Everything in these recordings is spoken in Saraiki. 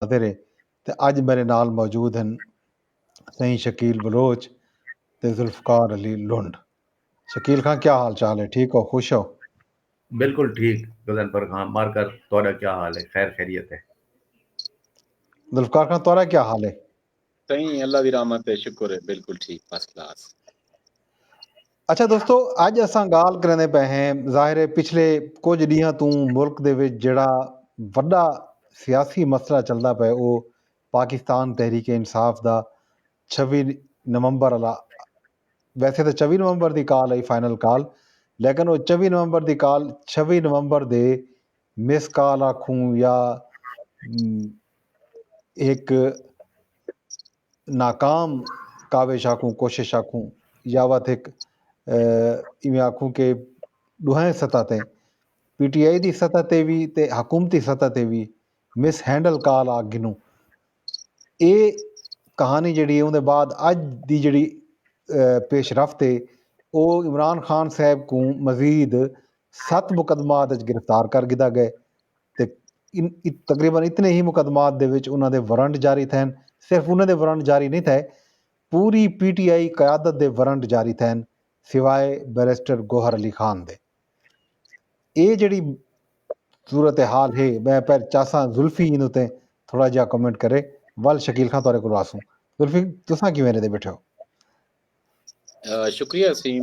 خاطر ہے تے اج میڈے نال موجود ہن سئیں شکیل بلوچ تے ذوالفقار علی لنڈ۔ شکیل خاں کیا حال چال ہے ٹھیک ہو خوش ہو؟ بالکل ٹھیک غضنفر خاں مار کر تہاڈا کیا حال ہے خیر خیریت ہے؟ ذوالفقار خاں تہاڈا کیا حال ہے؟ سائیں اللہ دی رحمت ہے شکر ہے بالکل ٹھیک فرسٹ کلاس اچھا دوستو اج اساں گال کریندے پے ہیں ظاہر ہے پچھلے کچھ ڈیہاں تو ملک دے وچ جڑا وڈا سیاسی مسئلہ چلدا پے او پاکستان تحریک انصاف دا 26 نومبر والا ویسے تے 24 نومبر دی کال ہے فائنل کال لیکن او 24 نومبر دی کال 26 نومبر دے مس کال آکھوں یا ہک ناکام کاوش آکھوں کوشش آکھوں یا وت ہک ایویں آکھوں کہ ڈوہیں سطح تے پی ٹی آئی دی سطح تے وی تے حکومتی سطح تے وی مس ہینڈل کال آکھ گھنوں اے کہانی جڑی ہے اوندے بعد اج دی جڑی پیش رفت ہے او عمران خان صاحب کوں مزید ست مقدمات اچ گرفتار کر گھدا گئے تے تقریبا اتنے ہی مقدمات دے وچ انہاں دے ورنٹ جاری تھئن، صرف انہاں دے ورنٹ جاری نئیں تھئے پوری پی ٹی آئی قیادت دے ورنٹ جاری تھئن سوائے بیرسٹر گوہر علی خان دے۔ ایہ جیڑھی صورت حال ہے میں پہر چاہساں زلفی این اتے تھوڑا جیہا کمنٹ کرے ول شکیل خاں تہاڈے کولوں آسوں زلفی تساں کیویں ریندے بیٹھے ہو؟ شکریہ اسیم،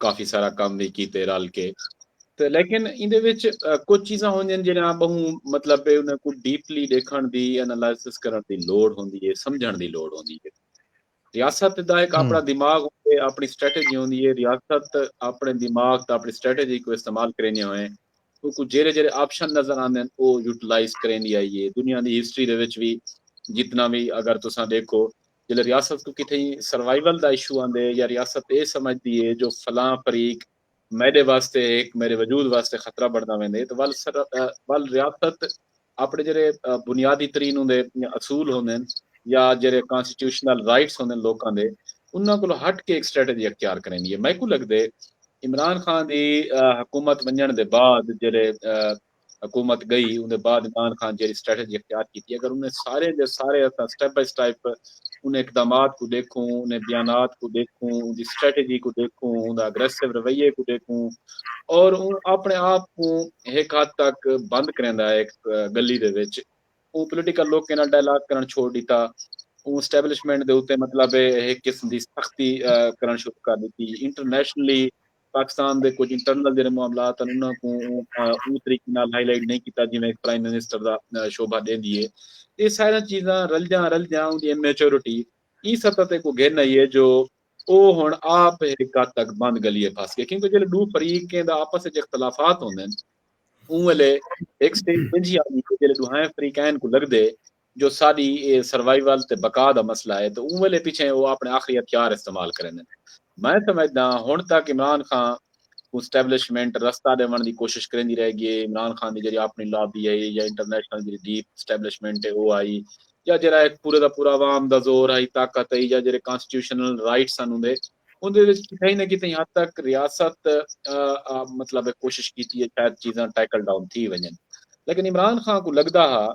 کافی سارا کم وی کیتے رل کے تے لیکن ایندے وچ کجھ چیزاں ہوندین جیڑھیاں بہوں مطلب ہے انہاں کوں ڈیپلی ڈیکھن دی انالائسس کرن دی لوڑ ہوندی ہے سمجھن دی لوڑ ہوندی ہے ریاست دا ایک اپنا دماغ ہوندے ہے اپنی سٹریٹجی ہوندی ہے ریاست اپنے دماغ تے اپنی سٹریٹجی کو استعمال کریندے ہوئے کو جیرے جیرے آپشن نظر آندے ہیں او یوٹیلائز کریندی آئی ہے دنیا دی ہسٹری دے وچ وی جتنا وی اگر تساں دیکھو جیلے ریاست کوں کتھے سروائیول دا ایشو آندے یا ریاست اے سمجھ دی اے جو فلاں فریق میڈے واسطے ہک میڈے وجود واسطے خطرہ بنڑدا ویندے تاں ول ول ریاست اپنڑے جیڑے بنیادی ترین اوندے اصول ہوندن یا جیڑے کانسٹیٹیوشنل رائٹس ہوندن لوکاں دے انہاں کولو ہٹ کے ہک سٹریٹجی اختیار کریندی اے میکوں لگدے عمران خان دی حکومت ونجنڑ دے بعد جیڑے حکومت گئی اوندے بعد عمران خان جیڑی سٹریٹجی اختیار کیتی اگر انہیں سارے دے سارے اساں سٹیپ بائی سٹیپ انہیں اقدامات کو دیکھوں انہیں بیانات کو دیکھوں ان دی سٹریٹجی کو دیکھوں ان دا اگریسو رویے کو دیکھوں اور ان اپنے آپ کو ایک حد تک بند کریں دا ایک گلی دے وچ ان پولیٹیکل لوگ کے نال ڈائلاگ کرن چھوڑ دیتا ان اسٹیبلشمنٹ دے اتے مطلب ایک قسم دی سختی کرن شروع کر دیتی انٹرنیشنلی پاکستان دے کجھ انٹرنل جیڑھے معاملات ہن انہاں کوں اوں طریقے نال ہائی لائٹ نہیں کیتا جیویں ہک پرائم منسٹر دا شوبھا ڈیندی اے۔ اے ساریاں چیزاں رلدیاں رلدیاں اوندی امیچورٹی ایں سطح تے کو گھن آئی اے جو او ہن آپ ہک حد تک بند گلیے پھس گئے کیونکہ جیلے ڈو فریقیں دا آپس اچ اختلافات ہوندن اوں ویلے ہک سٹیج اینجھی آندی اے جیلے ڈوہائیں فریقین کوں لگدے جو ساݙی اے سروائیول تے بقا دا مسئلہ اے تاں اوں ویلھے پچھیں او آپݨے آخری ہتھیار استعمال کریندن۔ میں سمجھداں ہݨ تک عمران خان کوں سٹیبلشمنٹ رستہ ݙیوݨ دی کوشش کریندی رہ ڳی اے، عمران خان دی جیڑھی آپݨی لابی ہئی یا انٹرنیشنل جیڑھی ڈیپ سٹیبلشمنٹ اے او ہئی یا جیڑھا ہک پورے دا پورا عوام دا زور ہئی، طاقت ہئی یا جیڑھے کانسٹیٹیوشنل رائٹس ہن اوندے۔ اوندے وچ کتھائی نہ کتھائی حد تک ریاست مطلب کوشش کیتی ہے شاید چیزاں ٹیکل ڈاؤن تھی ونجن لیکن عمران خان کو لگدا ہا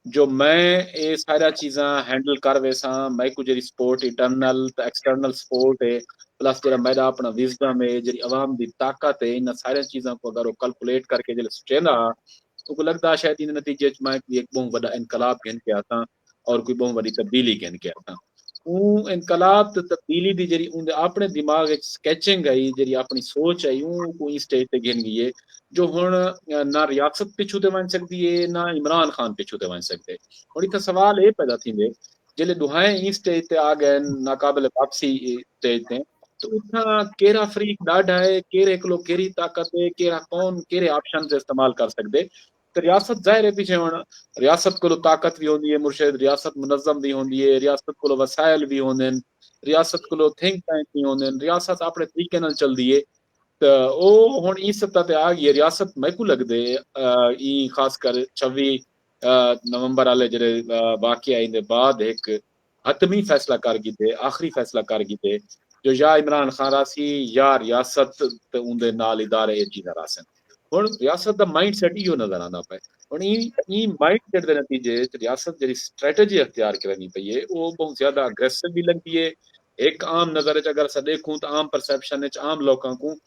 جو میں اے سارا چیزاں ہینڈل کر ویساں میں کو جڑی سپورٹ انٹرنل تے ایکسٹرنل سپورٹ ہے پلس جڑا میرا اپنا وزڈم ہے جڑی عوام دی طاقت ہے انہاں سارے چیزاں کو اگر وہ کیلکولیٹ کر کے جڑا سوچیندا ہا تو کو لگدا شاید ان نتیجے وچ میں کوئی ایک بہت بڑا انقلاب گھن کے آساں اور کوئی بہوں وڈی تبدیلی گھن کے آساں اوں انقلاب تے تبدیلی دی جڑی اون دے اپنے دماغ وچ سکیچنگ آئی جڑی اپنی سوچ آئی اوں کو این سٹیج تے گھن گئی ہے جو ہن نہ ریاست پچھو تے ونج سکدی ہے نہ عمران خان پچھو تے ونج سکدے ہن ایتھے سوال اے پیدا تھیندے جلے دوہائیں این سٹیج تے آ گئے ناقابل واپسی سٹیج تے تو اتھاں کیرا فریق ڈاڈھا ہے کیرے کلو کیری طاقت ہے کیرا کون کیرے آپشن تے استعمال کر سکدے تے ریاست ظاہر ہے پیچھے ہن ریاست کولو طاقت وی ہوندی ہے مرشد ریاست منظم وی ہوندی ہے ریاست کولو وسائل وی ہوندن ریاست کولو تھنک ٹینک وی ہوندن ریاست اپنے طریقے نال چلدی ہے تے او ہن ایں سطح تے آ گئی ہے ریاست میکوں لگدے ایں خاص کر چھوی نومبر والے جڑے واقعہ ایندے بعد ہک حتمی فیصلہ کر گھدے، آخری فیصلہ کر گھدے جو یا عمران خان راہسی یا ریاست تے اوندے نال ادارے اے چیزاں راہسن۔ ہݨ ریاست دا مائنڈ سیٹ ایہو نظر آندا پئے۔ ہݨ ایں ایں مائنڈ سیٹ دے نتیجے اچ ریاست جیڑھی سٹریٹجی اختیار کریندی پئی اے او ٻہوں زیادہ اگریسو وی لڳدی اے۔ ہک عام نظر اچ اگر اساں ݙیکھوں تاں عام پرسیپشن اچ عام لوکاں کوں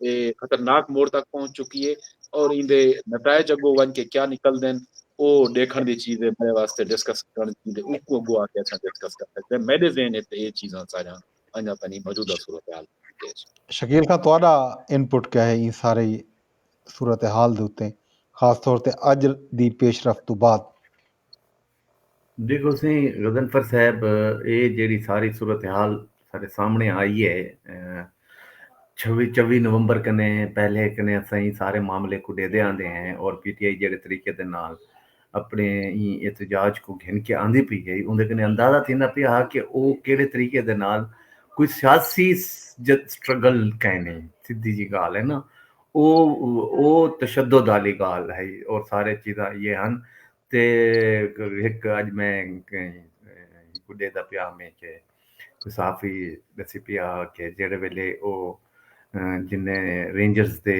اے خطرناک موڑ تک پہنچ چکی اے اور ایندے نتائج اگو ونج کے کیا نکلدن او ڈیکھن دی چیز اے میڈے واسطے ڈسکس کرن دی چیز اے اوکوں اگو آ کے اساں ڈسکس کر سکدے ہیں میڈے ذہن اچ تے اے چیزاں ساریاں انجا تنی موجودہ صورتحال اچ۔ شکیل خاں تہاڈا انپٹ کیا ہے ایں ساری صورتحال دے اتے خاص طور تے اج دی پیش رفت توں بعد؟ دیکھو سئیں غضنفر صاحب اے جیڑھی ساری صورتحال ساڈے سامنے آئی اے چھوی چوی نومبر کنے پہلے کنے اساں ایں سارے معاملے کو ڈیدے آندے ہیں اور پی ٹی آئی جیڑھے طریقے دے نال اپنے ایں احتجاج کو گھن کے آندی پئی ہے اوندے کنے اندازہ تھیندا پیا ہا کہ او کیڑھے طریقے دے نال کوئی سیاسی سٹرگل کائے نہیں سدھی جی گال ہے نا او او تشدد والی گال ہے اور سارے چیزاں یہ ہن تے ہک اج میں ہکو ڈیدا پیا ہمیں کہ صحافی دسی پیا کہ جیڑے ویلے او جن رینجرز دے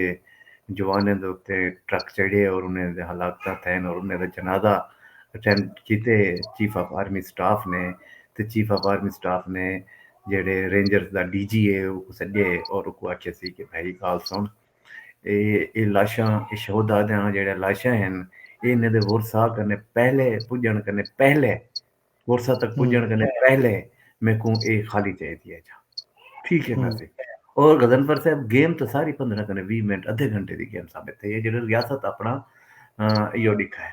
جوانیں دے اتے ٹرک چڑھے اور انہیں دے حالات کا تھین اور انہیں دے جنازہ اٹینڈ کیتے چیف آف آرمی سٹاف نے تے چیف آف آرمی سٹاف نے جیڑے رینجرز دا ڈی جی ہے او کو سڈے اور کو آکھے سی کہ بھائی گال سن اے اے لاشاں اے شہداء دیاں جیڑھیاں لاشاں ہن اے انھاں دے ورثاء کنے پہلے پڄݨ کنے پہلے ورثاء تک پڄݨ کنے پہلے میکوں اے خالی چاہیدی ہے جا ٹھیک ہے نا سی اور غزنفر صاحب گیم تو ساری پندرہ کنے وی منٹ ادھے گھنٹے دی گیم ثابت تھئی ہے جیڑھے ریاست اپنا ایو ڈکھا ہے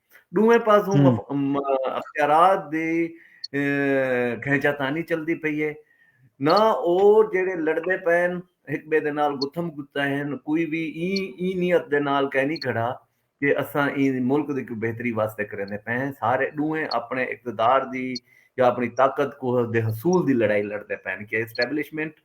ݙوہیں پاسوں اختیارات دی گھنچا تانی چلدی پئی اے نہ او جیڑھے لڑدے پئن ہک ٻئے دے نال گتھم گتا ہن کوئی وی ایں ایں نیت دے نال کائنی کھڑا کہ اساں ایں ملک دی کوئی بہتری واسطے کریندے پئے ہیں سارے ݙوہیں اپݨے اقتدار دی یا اپݨی طاقت کو دے حصول دی لڑائی لڑدے پئن کہ اسٹیبلشمنٹ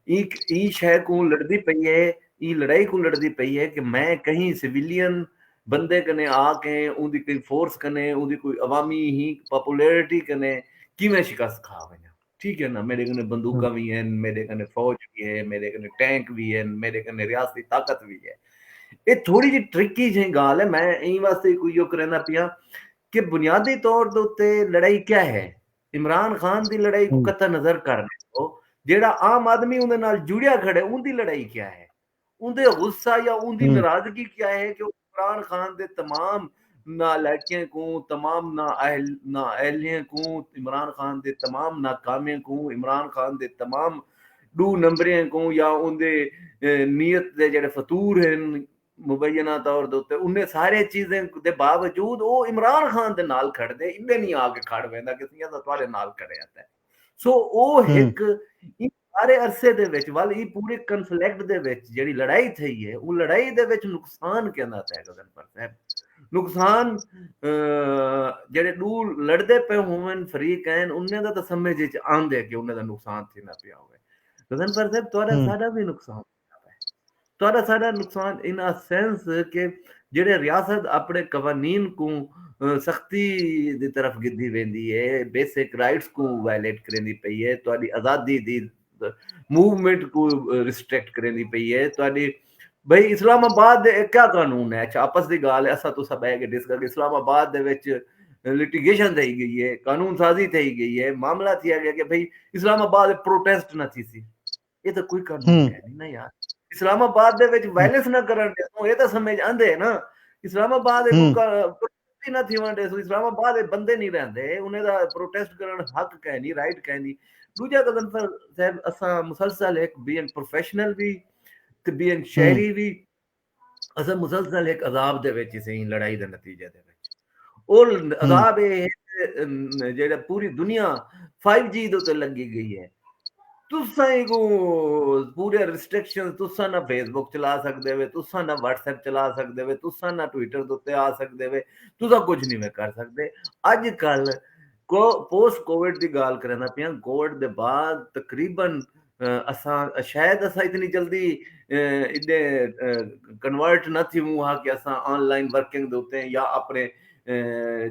ایں ایں شے کوں لڑدی پئی اے ایں لڑائی کوں لڑدی پئی اے کہ میں کہیں سویلین بندے کنیں آ کے اوندی کئی فورس کنیں اوندی کوئی عوامی ہی پاپولیرٹی کنیں کیویں شکست کھا ونجاں ٹھیک ہے نا میڈے کنے بندوقاں وی ہن میڈے کنے فوج وی ہے میڈے کنے ٹینک وی ہن میڈے کنے ریاستی طاقت وی ہے اے تھوڑی جی ٹرکی جیں گال ہے میں ایں واسطے کوئی یو کریندا پیاں کہ بنیادی طور دے اوتے لڑائی کیا ہے عمران خان دی لڑائی کو قطع نظر کر جیڑا عام آدمی اوندے نال جڑیا کھڑے اوندی لڑائی کیا ہے اوندے غصہ یا اوندی ناراضگی کیا ہے کہ عمران خان دے تمام نالائکیں کوں تمام نااہل نااہلیں کوں عمران خان دے تمام ناکامیں کوں عمران خان دے تمام ڈو نمبریں کوں یا اوندے نیت دے جڑے فطور ہیں مبینہ طور دے تے انہیں سارے چیزیں دے باوجود او عمران خان دے نال کھڑ دے ایڈے نہیں آ کے کھڑ ویندا کہ سیاں دا تواڈے نال کھڑے ہیں سو او ہک سارے عرصے دے وچ ول ای پورے کنفلیکٹ دے وچ جڑی لڑائی تھئی ہے او لڑائی دے وچ نقصان کیندا تھے گزن پر تھے نقصان جڑے دو لڑدے پہ ہوئن فریق ہیں انہیں دا تو سمجھے چاہن دے کہ انہیں دا نقصان تھی نہ پیا ہوئے گزن پر تھے تو سارا بھی نقصان تھے تہاݙا ساݙا نقصان ان اے سینس کہ جیڑھے ریاست اپݨے قوانین کوں سختی دی طرف گھدی ویندی اے، بیسک رائٹس کوں وائلیٹ کریندی پئی اے، تہاݙی آزادی دی موومنٹ کوں ریسٹرکٹ کریندی پئی اے، تہاݙی بھئی اسلام آباد دے اے کیا قانون اے، اچھا آپس دی ڳالھ اے اساں تساں ٻہہ کے ݙس گھدے اسلام آباد دے وچ لٹیگیشن تھئی ڳئی اے، قانون سازی تھئی ڳئی اے، معاملہ تھیا ڳیا کہ بھئی اسلام آباد پروٹیسٹ نہ تھیسی۔ یہ تو کوئی کام نہیں ہے نا یار اسلام آباد دے وچ وائلنس نہ کرن دے سو یہ تو سمجھ آندے ہے نا اسلام آباد پروٹیسٹ نہ تھی ونڈے سو اسلام آباد بندے نہیں رہندے انہیں دا پروٹیسٹ کرن حق کہیں نہیں رائٹ کہیں نہیں دوجہ قدم پر صاحب اساں مسلسل ایک بین پروفیشنل بھی تے بین شہری بھی اساں مسلسل ہک عذاب دے وچ سئیں لڑائی دے نتیجے دے وچ او عذاب اے ہے جیڑا پوری دنیا 5G جی دے تے لگی گئی ہے تساں کو پورے ریسٹرکشن تساں نہ فیس بک چلا سکدے وے تساں نہ واٹس ایپ چلا سکدے وے تساں نہ ٹویٹر دے تے آ سکدے وے تساں کچھ نہیں میں کر سکدے اج کل کو پوسٹ کووڈ دی گال کرنا پیاں کووڈ دے بعد تقریبا اساں شاید اساں اتنی جلدی ایڈے کنورٹ نہ تھیوں ہا کہ اساں آن لائن ورکنگ دے اتے یا اپنے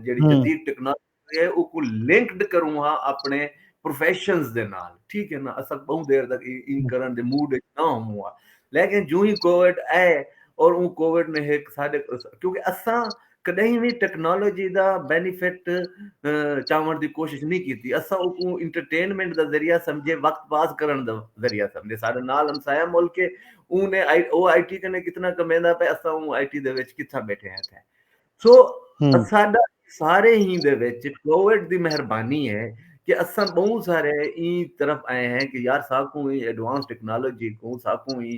جیڑی جدید ٹیکنالوجی ہے او کو لنکڈ کروں ہا اپنے پروفیشنز دے نال ٹھیک ہے نا اساں بہوں دیر تک ان کرن دے موڈ وچ نہ ہوں ہا لیکن جو ہی کووڈ آئے اور اون کووڈ نے ایک ساڈے کیونکہ اساں کݙاہیں وی ٹیکنالوجی دا بینیفٹ چاوݨ دی کوشش نی کیتی اساں اوکوں انٹرٹینمنٹ دا ذریعہ سمجھے وقت پاس کرݨ دا ذریعہ سمجھے ساݙے نال ہمسایہ ملک ہے اوں نے او آئی ٹی کنے کتنا کمیندا پئے اساں اوں آئی ٹی دے وچ کتھاں بیٹھے ہیں تھے سو اساڈا سارے ہی دے وچ کووڈ دی مہربانی ہے کہ اساں بہوں سارے ایں طرف آئے ہیں کہ یار ساکوں ہی ایڈوانس ٹیکنالوجی کوں ساکوں ہی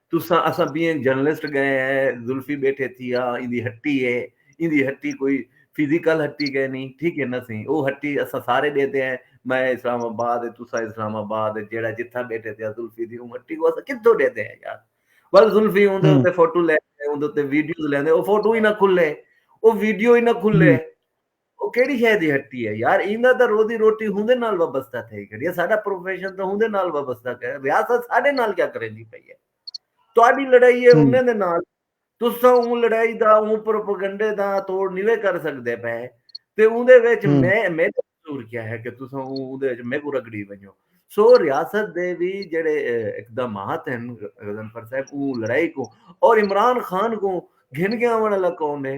تساں اساں بینگ جرنلسٹ گئے ہے زلفی بیٹھے تھی ہا ایندی ہٹی ہے ایندی ہٹی کوئی فزیکل ہٹی گئے نہیں ٹھیک ہے نہ سی او ہٹی اساں سارے ڈیتے ہیں میں اسلام آباد ہے تساں اسلام آباد ہے جیڑا جتھا بیٹھے تھے زلفی دی اون ہٹی کو اساں کتھوں ڈیتے ہیں یار بل زلفی اون دے تے فوٹو لے اون دے تے ویڈیوز لیندے او فوٹو ہی نہ کھلے او ویڈیو ہی نہ کھلے او کیڑی شے دی ہٹی ہے یار ایندا تاں روزی روٹی ہوندے نال وابستہ تھئی کھڑی ہے ساڈا پروفیشن تاں ہوندے نال وابستہ کر ریاست ساڈے نال کیا کریندی پئی ہے تہاڈی لڑائی ہے انہیں دے نال تساں اون لڑائی دا اون پروپیگنڈے دا توڑ نیوے کر سکدے پے تے اوندے وچ میں میڈا قصور کیا ہے کہ تساں اون اوندے وچ میکو رگڑی ونجو سو ریاست دے وی جڑے اقدامات ہیں غضنفر صاحب اون لڑائی کو اور عمران خان کو گھن کے آون والا کون ہے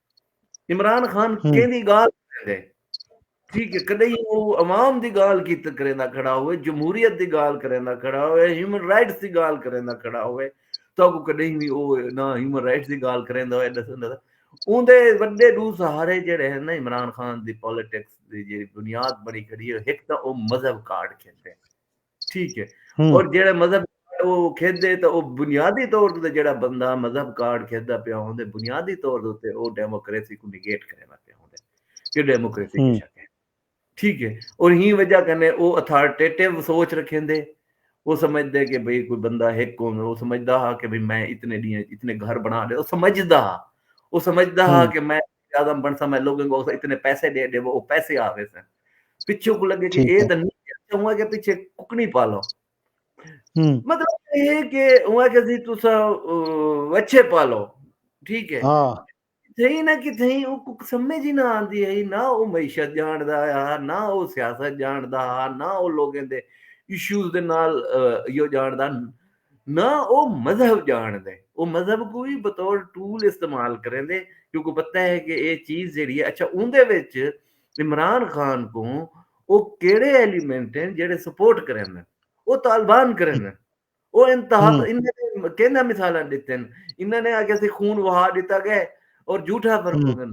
عمران خان کیندی گال کریندے ٹھیک ہے کدی او عوام دی گال کی کریندا کھڑا ہوئے جمہوریت دی گال کریندا کھڑا ہوئے ہیومن رائٹس دی گال کریندا کھڑا ہوئے تو کو کدی وی او نہ ہیومن رائٹس دی گال کریندا ہوئے دسندا اون دے وڈے دو سہارے جڑے ہیں نا عمران خان دی پولیٹکس دی جڑی بنیاد بنی کھڑی ہے ایک تاں او مذہب کارڈ کھیتے ہیں ٹھیک ہے اور جیڑا مذہب او کھیدے تے او بنیادی طور تے جیڑا بندہ مذہب کارڈ کھیدا پیا ہوندے بنیادی طور تے او ڈیموکریسی کو نگیٹ کرنا پیا ہوندے کہ ڈیموکریسی کی شک ہے ٹھیک ہے اور ہی وجہ کنے او اتھارٹیٹیو سوچ رکھیں دے وہ سمجھدے کہ بھئی کوئی بندہ ایک کون وہ سمجھدا ہا کہ بھئی میں اتنے ڈیاں اتنے گھر بنا لے وہ سمجھدا ہا وہ سمجھدا ہا کہ میں اعظم بنسا میں لوگوں کو اتنے پیسے دے دے وہ پیسے آ ویسے پچھوں کو لگے کہ اے دن اچھا ہوا کہ پچھے ککنی پالو مطلب یہ کہ ہوا کہ جی تو سا وچھے پالو ٹھیک ہے ہاں۔ تھئی نہ کہ تھئی او کک سمجھ ہی نہ آندی ہے نہ او معیشت جان دا ہے نہ او سیاست جان دا ہے نہ او لوگوں دے ایشوز دے نال یو جان دا نہ او مذہب ڄاݨدے۔ او مذہب کوں وی بطور ٹول استعمال کریندے کیونکہ پتہ ہے کہ اے چیز جیڑھی ہے اچھا اوندے وچ عمران خان کوں او کیڑھے ایلیمنٹ ہن جیڑھے سپورٹ کریندن۔ او طالبان کریندن۔ او انتہا کیندا مثالاں ݙتن۔ انہاں نے آکھیا سی خون وہا ݙتا ڳئے اور جھوٹا فرمودن۔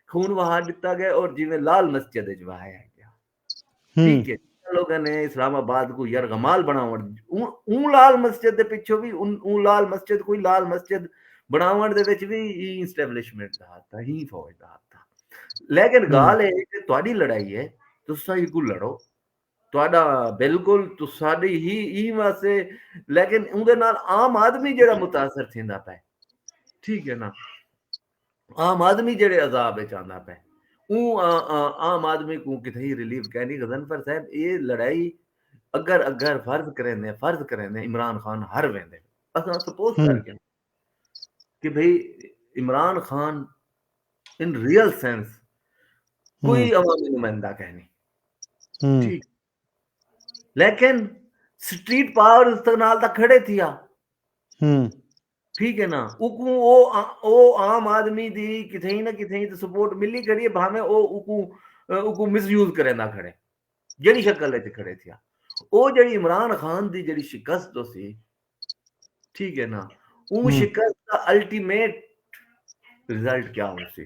خون وہا ڈتا گئے اور جیویں لال مسجد اچ وہایا گیا ٹھیک ہے لوگوں نے اسلام آباد کو یرغمال بناون اون لال مسجد دے پیچھے بھی اون لال مسجد کوئی لال مسجد بناون دے وچ بھی ای اسٹیبلشمنٹ دا تھا ہی فوج دا تھا لیکن گال ہے کہ تہاڈی لڑائی ہے تسا ہی کو لڑو تہاڈا بالکل تساڈی ہی ای واسے لیکن اون دے نال عام آدمی جڑا متاثر تھیندا پے ٹھیک ہے نا عام آدمی جڑے عذاب اچ آندا پے اوں عام آدمی کو کتھائی ریلیف کینی غزنفر صاحب اے لڑائی اگر اگر فرض کریں دے فرض کریں دے عمران خان ہر ویندے اساں سپوز کر کے کہ بھئی Imran Khan in real sense کوئی عوامی نمائندہ کہنی ٹھیک لیکن سٹریٹ پاور استقنال تک کھڑے تھیا ٹھیک ہے نا اکوں او او عام آدمی دی کتھیں نہ کتھیں تے سپورٹ ملی کھڑی ہے بھاویں او اکوں اکوں مس یوز کریندا کھڑے جڑی شکل وچ کھڑے تھیا او جڑی عمران خان دی جڑی شکست تو سی ٹھیک ہے نا اون شکست دا الٹیمیٹ رزلٹ کیا ہو سی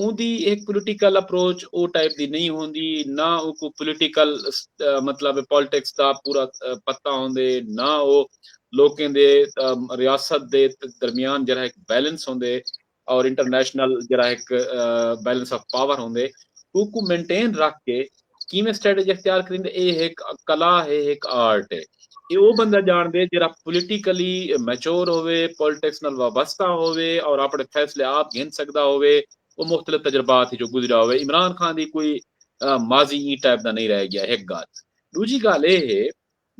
اوندی ہک پولیٹیکل اپروچ او ٹائپ دی نئیں ہوندی، نہ اوکوں پولیٹیکل مطلب پالیٹکس دا پورا پتہ ہوندے، نہ او لوکیں دے ریاست دے درمیان جیرھا ہک بیلنس ہوندے اور انٹرنیشنل جیرھا ہک بیلنس آف پاور ہوندے اوکوں مینٹین رکھ کے کیویں سٹریٹجی اختیار کریندے اے ہک کلا ہے ہک آرٹ ہے اے او بندہ جاندے جیرا پولیٹیکلی میچور ہوے پولیٹکس نال وابستہ ہوے اور اپنے فیصلے آپ گھن سکدا ہوے او مختلف تجربات جو گزریا ہوے عمران خان دی کوئی ماضی ای ٹائپ دا نہیں رہ گیا ہک گال دوجی گال اے ہے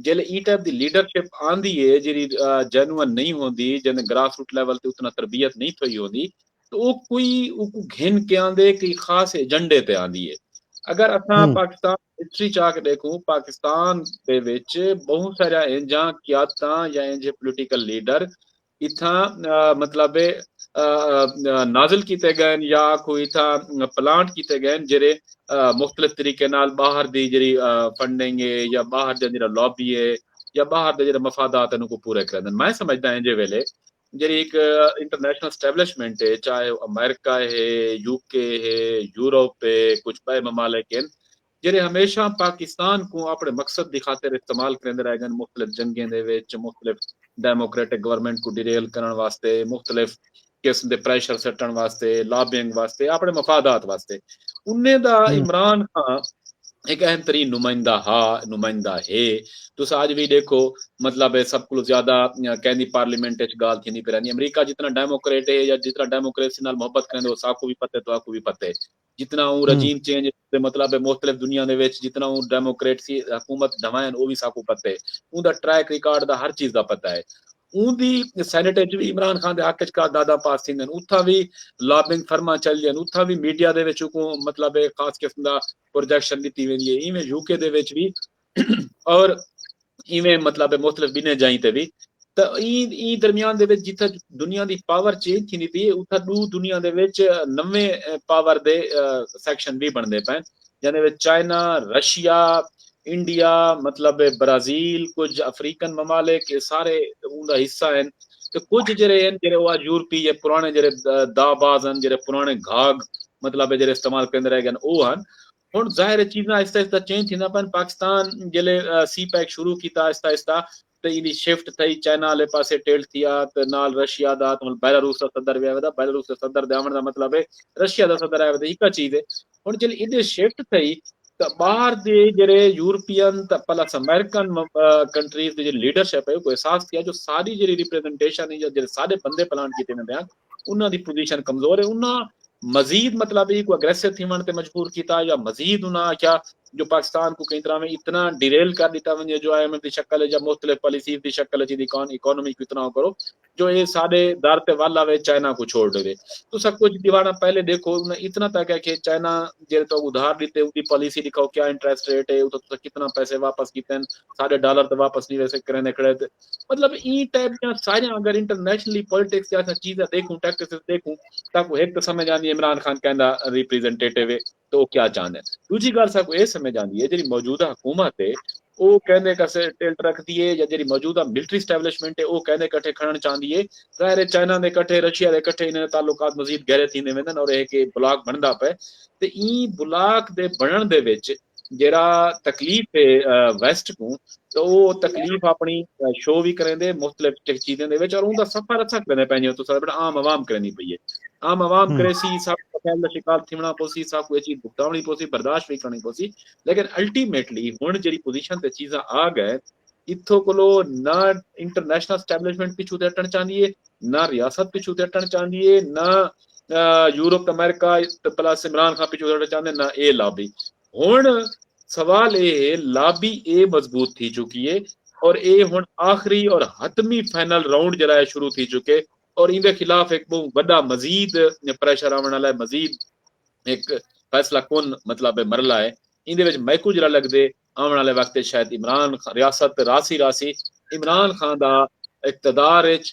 جیلے ایں ٹائپ دی لیڈرشپ آندی اے جیڑھی جینوئن نئیں ہوندی، جیندے گراس روٹ لیول تے اتنا تربیت نئیں تھئی ہوندی تاں او کوئی اوکوں گھن کے آندے کئی خاص ایجنڈے تے آندی اے۔ اگر اساں پاکستان دی ہسٹری چا کے ڈیکھوں پاکستان دے وچ بہوں ساریاں اینجھاں قیادتاں یا اینجھے پولیٹیکل لیڈر اتھاں مطلب ہے نازل کیتے گئے ہن یا آکھو اتھاں پلانٹ کیتے گئے ہن جیرھے مختلف طریقے نال باہر دی جیرھی فنڈنگ ہے یا باہر دا جیرھا لابی ہے یا باہر دے جیرھے مفادات ہن اوکوں پورے کریندن میں سمجھداں اینجھے ویلے جیرھی ہک انٹرنیشنل اسٹیبلشمنٹ ہے چاہے او امریکہ ہے یو کے ہے یورپ ہے کچھ بئے ممالک ہن جیڑھے ہمیشہ پاکستان کوں اپنڑے مقصد دی خاطر استعمال کریندے رہ گن مختلف جنگیں دے وچ مختلف ڈیموکریٹک گورنمنٹ کوں ڈیریل کرنڑ واسطے مختلف قسم دے پریشر سٹنڑ واسطے لابینگ واسطے اپنڑے مفادات واسطے انہیں دا عمران خان ایک اہم ترین نمائندہ ہا نمائندہ ہے تسا اج بھی دیکھو مطلب سب کو زیادہ کہندی پارلیمنٹ وچ گال تھیندی پرانی امریکہ جتنا ڈیموکریٹ ہے یا جتنا ڈیموکریسی نال محبت کرنے وہ ساکو بھی پتے تو آکو بھی پتے جتنا اوں رجیم چینج دے مطلب ہے مختلف دنیا دے وچ جتنا اوں ڈیموکریٹسی حکومت ڈھوائن او وی ساکوں پتہ ہے اوں دا ٹریک ریکارڈ دا ہر چیز دا پتہ ہے اوں دی سینیٹ وچ وی عمران خان دے حق وچ کا دادا پاس تھیندن اتھاں وی لابنگ فرما چل جن اتھاں وی میڈیا دے وچ کو مطلب ہے خاص قسم دا پروجیکشن ڈتی ویندی ہے ایویں یو کے دے وچ وی اور ایویں مطلب ہے مختلف بنے جائیں تے بھی تا این این درمیان دے وچ جتھا دنیا دی پاور چینج تھیندی پی اتھا دو دنیا دے وچ نویں پاور دے سیکشن بھی بندے پے جنے وچ چائنا رشیا انڈیا مطلب برازیل کچھ افریقن ممالک یہ سارے اون دا حصہ ہیں تے کچھ جڑے ہیں جڑے وہ یورپی یا پرانے جڑے دا باز ہیں جڑے پرانے گھاگ مطلب جڑے استعمال کریندے رہ گئے او ہیں ہن ظاہر ہے چیزاں آہستہ آہستہ چینج تھینداں پن پاکستان جلے سی پیک شروع کیتا آہستہ آہستہ تے ایندی شفٹ تھئی چائنا والے پاسے ٹلٹ تھیا تے نال رشیا دا تے ہن بیلاروس دا صدر وی آویدا بیلاروس دے صدر دے آوݨ دا مطلب ہے رشیا دا صدر آویدا ہکا چیز ہے ہن جلے ایندے شفٹ تھئی تے باہر دے جڑے یورپین تے پلس امریکن کنٹریز دے جڑے لیڈرشپ ہے کوئی احساس تھیا جو ساری جڑی ریپرزنٹیشن ہے یا جڑے سارے بندے پلان کیتے ویندے ہیں انہاں دی پوزیشن کمزور ہے انہاں مزید مطلب ہے کو اگریسو تھیون تے مجبور کیتا یا مزید انہاں آکھیا جو پاکستان کو کئی طرح میں اتنا ڈیریل کر دیتا ونجے جو آئی ایم ایف دی شکل ہے یا مختلف پالیسیز دی شکل ہے جی اکانومی کو اتنا کرو جو اے سارے دار تے وال آوے چائنا کو چھوڑ دے تو سب کچھ دیوانا پہلے دیکھو انہاں اتنا تک ہے کہ چائنا جیرے تو ادھار دیتے ان دی پالیسی دکھاؤ کیا انٹریسٹ ریٹ ہے اتنا کتنا پیسے واپس کیتے ہیں سارے ڈالر تے واپس نہیں ویسے کرنے کھڑے تھے مطلب این ٹائپ دیاں ساریاں اگر انٹرنیشنلی پولیٹکس تے اساں چیزاں دیکھوں ٹیکٹکس دیکھوں تاں کو ہک تے سمجھ آندی ہے عمران خان کیندا ریپریزنٹیٹیو ہے تے او کیا چاہندے ہیں دوجھی گال ساکو اے سمجھ آندی ہے جڑی موجودہ حکومت ہے او کیندے کسے ٹلٹ رکھدی ہے یا جڑی موجودہ ملٹری اسٹیبلشمنٹ ہے او کیندے کٹھے کھڑن چاہندی ہے ظاہر ہے چائنا دے کٹھے رشیا دے کٹھے انہاں دے تعلقات مزید گہرے تھیندے ویندن اور اے کہ بلاک بندا پے تے این بلاک دے بنن دے وچ جیڑھا تکلیف ہے ویسٹ کوں تو او تکلیف اپنی شو وی کریندے مختلف چیزیں دے وچ اور اوندا سفر اچھا کریندے پنجے تو سارے بڑا عام عوام کرنی پئی ہے عام عوام کرے سی سب پہل دا شکار تھیونا پوسی سب کوئی چیز بھگتاونی پوسی برداشت وی کرنی پوسی لیکن الٹیمیٹلی ہن جڑی پوزیشن تے چیزاں آ گئے اتھو کلو نہ انٹرنیشنل اسٹیبلشمنٹ پچھو تے ہٹن چاہندی ہے نہ ریاست پچھو تے ہٹن چاہندی ہے نہ یورپ امریکہ تے پلس عمران خان پیچھے سڑا چاہندے نہ اے لابی ہن سوال اے ہے لابی اے مضبوط تھی چکی ہے اور اے ہن آخری اور حتمی فائنل راؤنڈ جڑا ہے شروع تھی چکے اور ان دے خلاف ایک بہت بڑا مزید پریشر آون والا ہے مزید ایک فیصلہ کون مطلب مرلا ہے ان دے وچ میکو جڑا لگ دے آون والے وقت شاید عمران ریاست راسی راسی عمران خان دا اقتدار وچ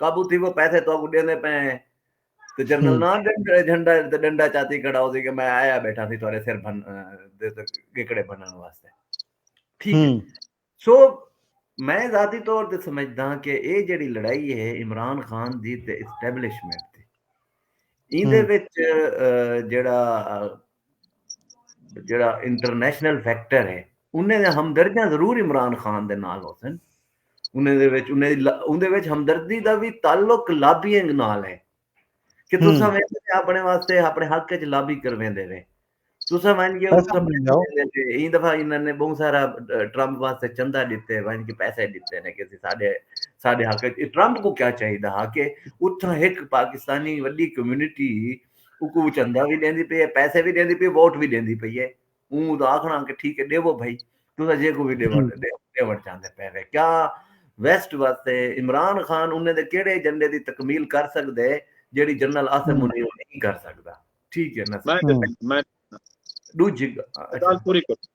قابو تھیوو پیسے تہاکوں ݙیندے پئے ہیں تے جنرل نا جھنڈا تے ݙنڈا چاتی کھڑا ہوسی کہ میں آیا بیٹھا سی تہاݙے سر بھن دے تے گھکڑے بھنݨ واسطے ٹھیک ہے سو میں ذاتی طور تے سمجھدا ہاں کہ اے جڑی لڑائی ہے عمران خان دی تے اسٹیبلشمنٹ دی ایندے وچ جڑا جیڑھا انٹرنیشنل فیکٹر ہے انہیں دے ہمدردیاں ضرور عمران خان دے نال ہوسن انہیں دے وچ انہیں دے وچ ہمدردی دا بھی تعلق لابینگ نال ہے کہ تسا میں اپنے واسطے اپنے حق وچ لابی کرویں دے وے تسا وین گے ایں دفعہ انہاں نے بہت سارا ٹرمپ واسطے چندہ دیتے وین کے پیسے دیتے نے کہ ساڈے ساڈے حق ٹرمپ کو کیا چاہیے ہا کہ اتھاں ایک پاکستانی وڈی کمیونٹی اکوں چندہ وی ݙیندی پئی اے، پیسے وی ݙیندی پئی اے، ووٹ وی ݙیندی پئی اے۔ اوں دا آکھݨا کہ ٹھیک اے ݙیوو بھئی، تساں جیکوں وی ݙیوݨ ݙیوݨ چاہندے پئے وے۔ کیا ویسٹ واسطے عمران خان انہیں دے کیڑھے ایجنڈے دی تکمیل کر سڳدے جیڑھی جنرل عاصم منیر نئیں کر سڳدا۔ ٹھیک اے نا سر۔ میں ݙوجھی گال پوری کر۔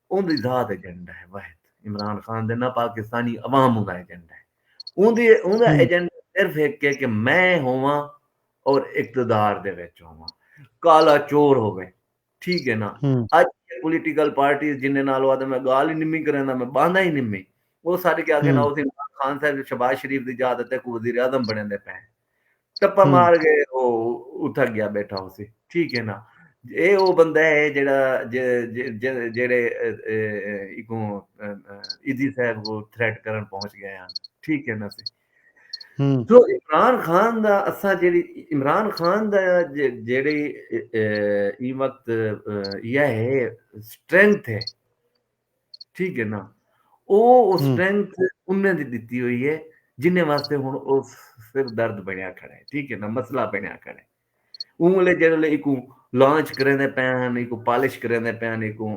اوندی ذات ایجنڈا ہے واحد عمران خان دے نہ پاکستانی عوام اوندا ایجنڈا ہے اوندی اوندا ایجنڈا صرف ہک ہے کہ میں ہوواں اور اقتدار دے وچ ہوواں کالا چور ہووے ٹھیک ہے نا اج پولیٹیکل پارٹیز جنہیں نال وہ میں گال ہی نمی کریندا میں باندا ہی نمی وہ سارے کے آگے نا اس عمران خان صاحب شہباز شریف دی جا تے کو وزیر اعظم بنے دے پے ٹپا مار کے او اتھا گیا بیٹھا ہوسی ٹھیک ہے نا اے او بندہ ہے جیڑا جیڑے اکوں ایدھی صاحب کو تھریٹ کرن پہنچ گئے ہیں ٹھیک ہے نا سی تو عمران خان دا اساں جیڑی عمران خان دا جیڑی ای وقت یہ ہے سٹرینتھ ہے ٹھیک ہے نا او او سٹرینتھ انہیں دی دیتی ہوئی ہے جنہیں واسطے ہن او سر درد بنیا کھڑا ہے ٹھیک ہے نا مسئلہ بنیا کھڑا ہے اون لے جڑے لے ایکو لانچ کریں دے پے ہن ایکو پالش کریں دے پے ہن ایکو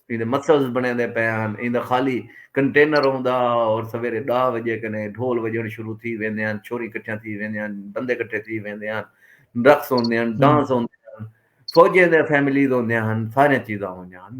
ایندے مسلز بنے دے پے ہن ایندا خالی کنٹینر ہوندا اور سویرے دا وجے کنے ڈھول وجن شروع تھی ویندے ہن چھوری کٹھیاں تھی ویندے ہن بندے کٹھے تھی ویندے ہن رقص ہوندے ہن ڈانس ہوندے ہن فوجیں دے فیملیز ہوندے ہن سارے چیزاں ہوندے ہن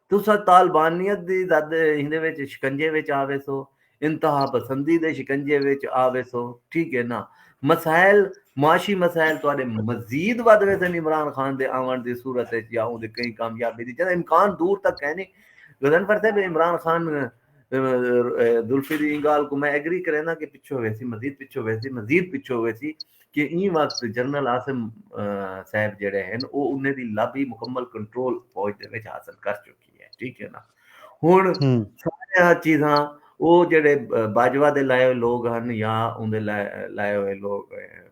تساں طالبانیت دی زد ایندے وچ شکنجے وچ آ ویسو، انتہا پسندی دے شکنجے وچ آ ویسو، ٹھیک ہے نا؟ مسائل، معاشی مسائل تہاݙے مزید ودھ ویسن عمران خان دے آوݨ دی صورت وچ یا اوندی کہیں کامیابی دی جݙاں امکان دور تک کائنی۔ غضنفر صاحب عمران خان ذوالفی دی ایں گالھ کوں میں ایگری کرینداں کہ پچھو ویسی مزید پچھو ویسی مزید پچھو ویسی کہ ایں وقت جنرل عاصم صاحب جڑے ہیں او انہیں دی لابی مکمل کنٹرول فوج دے وچ حاصل کر چکی ہے ٹھیک ہے نا ہن سارے چیزاں او جڑے باجوہ دے لائے ہوئے لوگ ہیں یا اون دے لائے ہوئے لوگ ہیں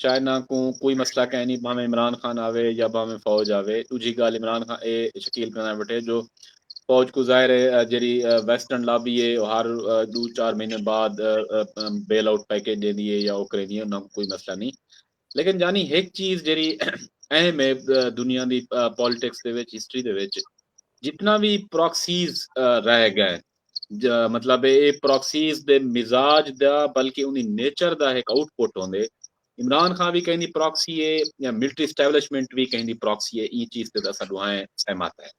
چائنا کوں کوئی مسئلہ کائنی بھانویں عمران خان آوے یا بھانویں فوج آوے ڈوجھی گالھ عمران خان اے شکیل بنڑائے وٹھے جو فوج کوں ظاہر اے جیڑھی ویسٹرن لابی اے او ہر ڈو چار مہینے بعد بیل آؤٹ پیکج ڈیندی اے یا او کریندی اے انہاں کوں کوئی مسئلہ نی لیکن جانی ہک چیز جیڑھی اہم اے دنیا دی پالیٹکس دے وچ ہسٹری دے وچ جتنا وی پراکسیز رہ گئے مطلب اے اے پراکسیز دے مزاج دا بلکہ اوندی نیچر دا ہک آؤٹ پٹ ہوندے۔ عمران خان وی کہیں دی پراکسی اے یا ملٹری اسٹیبلشمنٹ وی کہیں دی پراکسی اے ایں چیز تے تاں اساں ڈوہائیں سہمت ہیں۔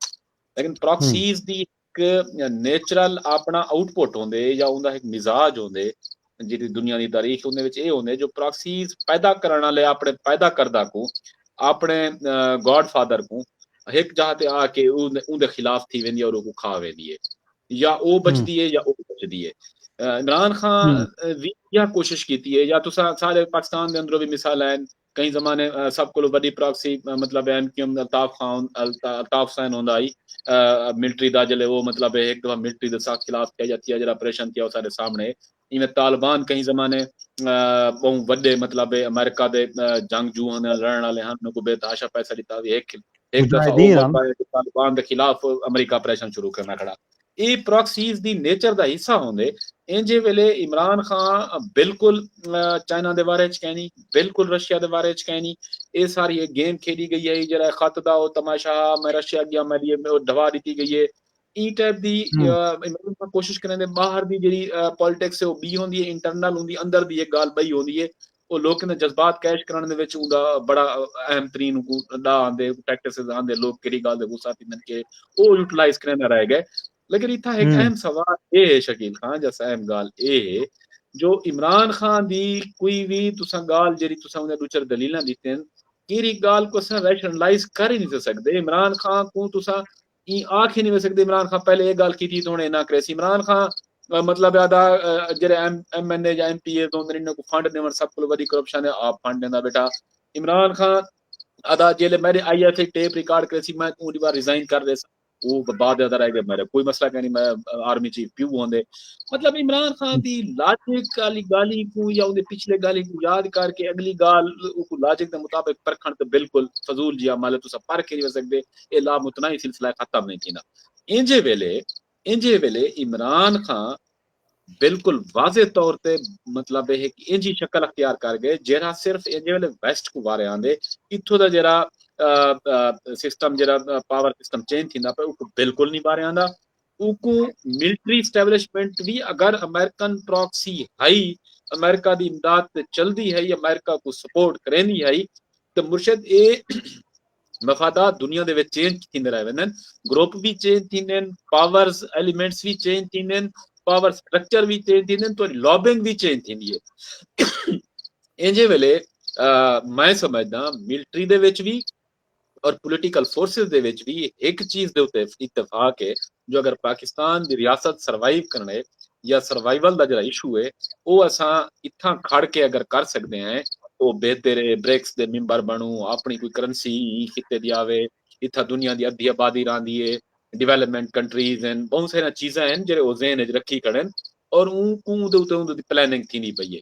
لیکن پراکسیز دی ہک نیچرل اپنا آؤٹ پٹ ہوندے یا اوندا ہک مزاج ہوندے۔ جیڑھی دنیا دی تاریخ اوندے وچ ایہ ہوندے جو پراکسیز پیدا کرݨ آلے آپݨے پیدا کردہ کوں آپݨے گاڈ فادر کوں ہک جاہ تے آ کے اوندے خلاف تھی ویندی ہے اور اوکوں کھا ویندی ہے یا او بچدی ہے یا او بچدی ہے عمران خان وی یا کوشش کیتی ہے یا تساں سارے پاکستان دے اندروں وی مثال ہیں کہیں زمانے سب کولوں وڈی پراکسی مطلب M Q M Altaf Khan Altaf Hussain ہوندا ہئی ملٹری دا جلے او مطلب ہک دفعہ ملٹری دے سخت خلاف تھیا یا تھیا جڑا آپریشن تھیا او سارے سامنے ایویں طالبان کہیں زمانے بہوں وڈے مطلب امریکہ دے جنگ جو ہن لڑن والے ہن انہاں کو بے تحاشا پیسہ ڈتا وی ہک ہک دفعہ طالبان دے خلاف امریکہ آپریشن شروع کرنا کھڑا اے پراکسیز دی نیچر دا حصہ ہوندے اینجھے ویلے عمران خان بالکل چائنا دے بارے وچ کہنی بالکل رشیا دے بارے وچ کہنی اے ساری ایک گیم کھیڈی گئی ہے جڑا خط دا او تماشا میں رشیا گیا میں لیے ڈھوا دیتی گئی ہے ای ٹائپ دی عمران خان کوشش کریں دے باہر دی جڑی پالیٹکس ہے او بی ہوندی ہے انٹرنل ہوندی اندر دی ایک گال بئی ہوندی ہے او لوکیں دے جذبات کیش کرݨ دے وچ اوندا بڑا اہم ترین اونکوں ڈا آندے پریکٹسز آندے لوک کیڑی گال دے غصہ تھیندن کہ او یوٹیلائز کریندا رہ گئے لیکن اتھا ایک اہم سوال اے ہے شکیل خان جس اہم گال اے ہے جو عمران خان دی کوئی وی تساں گال جڑی تساں اوندے دوچر دلیلاں دیتن کیڑی گال کو اساں ریشنلائز کر ہی نہیں سکدے عمران خان کو تساں ایں آکھ ہی نی ویسکدی عمران خان پہلے اے گال کیتی تے ہن اے نہ کریسی عمران خان مطلب ہے ادا جیرے ایم ایم این اے یا ایم پی اے تو انہاں کو فنڈ ڈیون سب کو ودی کرپشن ہے آپ فنڈ دیندا بیٹھا عمران خان ادا جیلے میرے I S E tape record کریسی میں اون دی بار ریزائن کر دے سا او بعد ادا رہ گئے میرے کوئی مسئلہ کہیں میں آرمی چیف پیو ہوندے مطلب عمران خان دی لاجک والی گالی کو یا اون پچھلے گالی کو یاد کر کے اگلی گال کو لاجک دے مطابق پرکھن تے بالکل فضول جی عمل ہے تسا پرکھ نہیں سکدے اے لامتناہی سلسلہ ختم نئیں تھیندا اینجھے ویلے اینجھے ویلے عمران خان بالکل واضح طور تے مطلب ہے کہ اینجی شکل اختیار کر گئے جیرا صرف اینجے والے ویسٹ کو وارے آندے اتھو دا جیرا سسٹم جیرا پاور سسٹم چینج تھیندا پے اوکو بالکل نہیں وارے آندا اوکوں ملٹری اسٹیبلشمنٹ وی اگر امریکن پراکسی ہئی، امریکہ دی امداد تے چلدی ہئی، امریکہ کوں سپورٹ کریندی ہئی تے مرشد اے مفادات دنیا دے وچ چینج تھیندے رہ ویندن، گروپ وی چینج تھیندن، پاورز ایلیمنٹس وی چینج تھیندن، پاور سٹرکچر وی چینج تھیندن، تہاڈی لابنگ وی چینج تھیندی ہے۔ اینجھے ویلے میں سمجھداں ملٹری دے وچ وی، اور پولیٹیکل فورسز دے وچ وی ہک چیز دے اتے اتفاق اے جو اگر پاکستان دی ریاست سروائیو کرنڑے یا سروائیول دا جیڑھا ایشو اے او اساں اتھاں کھڑ کے اگر کر سگدے ہیں او بہتر اے بریکس دے ممبر بنڑوں اپنڑی کوئی کرنسی ایں خطے دی آوے اتھاں دنیا دی ادھی آبادی راہندی اے ڈویلپمنٹ کنٹریز ہن بہوں ساریاں چیزاں ہن جیڑھے او ذہن اچ رکھی کھڑن اور اوں کوں دے اتے اوندے دی پلاننگ تھیندی پئی اے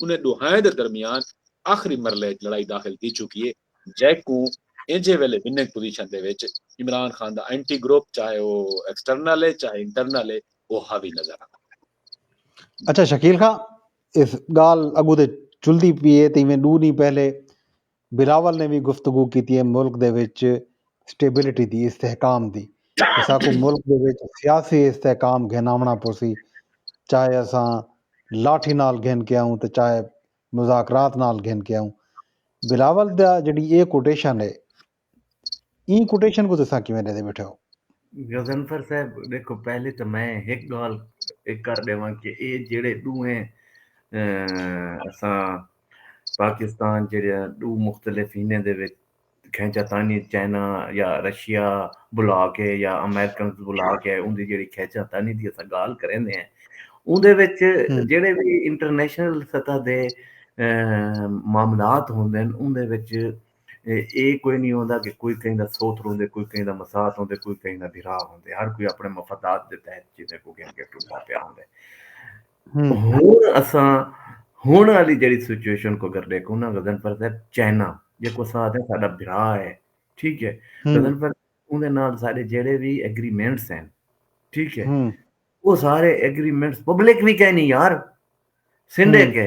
انھیں ݙوہائیں دے درمیان آخری مرحلے اچ لڑائی داخل تھی چکی اے جئیں کوں ایجھے ویلھے وننگ پوزیشن دے وچ Imran Khan the entity group چاہے او ایکسٹرنل اے چاہے انٹرنل اے او حاوی نظر آندا پئے۔ اچھا شکیل خاں اس ڳالھ اڳوں تے چلدی پی اے تے ایویں ݙو ݙینھ پہلے بلاول نے وی گفتگو کیتی اے ملک دے وچ سٹیبلٹی دی، استحکام دی، اساکوں ملک دے وچ سیاسی استحکام گھن آوݨا پوسی، چاہے اساں لاٹھی نال گھن کے آئوں تے چاہے مذاکرات نال گھن کے آئوں۔ بلاول دا جیڑھی اے کوٹیشن اے ایں کوٹیشن کوں تساں کیویں ݙیندے ٻیٹھے ہو؟ غضنفر صاحب ݙیکھو پہلے تاں میں ہک ڳالھ کر ݙیواں کہ اے جیڑھے ݙوہیں اساں پاکستان جیڑھے ݙو مختلف ہنیں دے وچ کھینچا تانی چائنا یا رشیا بلا کے یا امریکنز بلا کے اوندی جیڑھی کھینچا تانی دی اساں ڳالھ کریندے ہیں اوندے وچ جیڑھے وی انٹرنیشنل سطح دے معاملات ہوندن اوندے وچ اے کوئی نی ہوندا کہ کوئی کہیں دا سوتھ روندے، کوئی کہیں دا مسات ہوندے، کوئی کہیں دا بھرا ہوندے، ہر کوئی اپݨے مفادات دے تحت چیزیں کوں گھن کے ٹردا پیا ہوندے۔ ہݨ اساں ہݨ آلی جیڑھی سچویشن کوں اگر ݙیکھوں نا غضنفر صاحب چائنا جیکوں اساں آکھدے آں ساݙا بھرا ہے ٹھیک ہے غضنفر صاحب اوندے نال ساݙے جیڑھے وی ایگریمنٹس ہن ٹھیک ہے او سارے ایگریمنٹس پبلک وی کائنی یار سندھے کے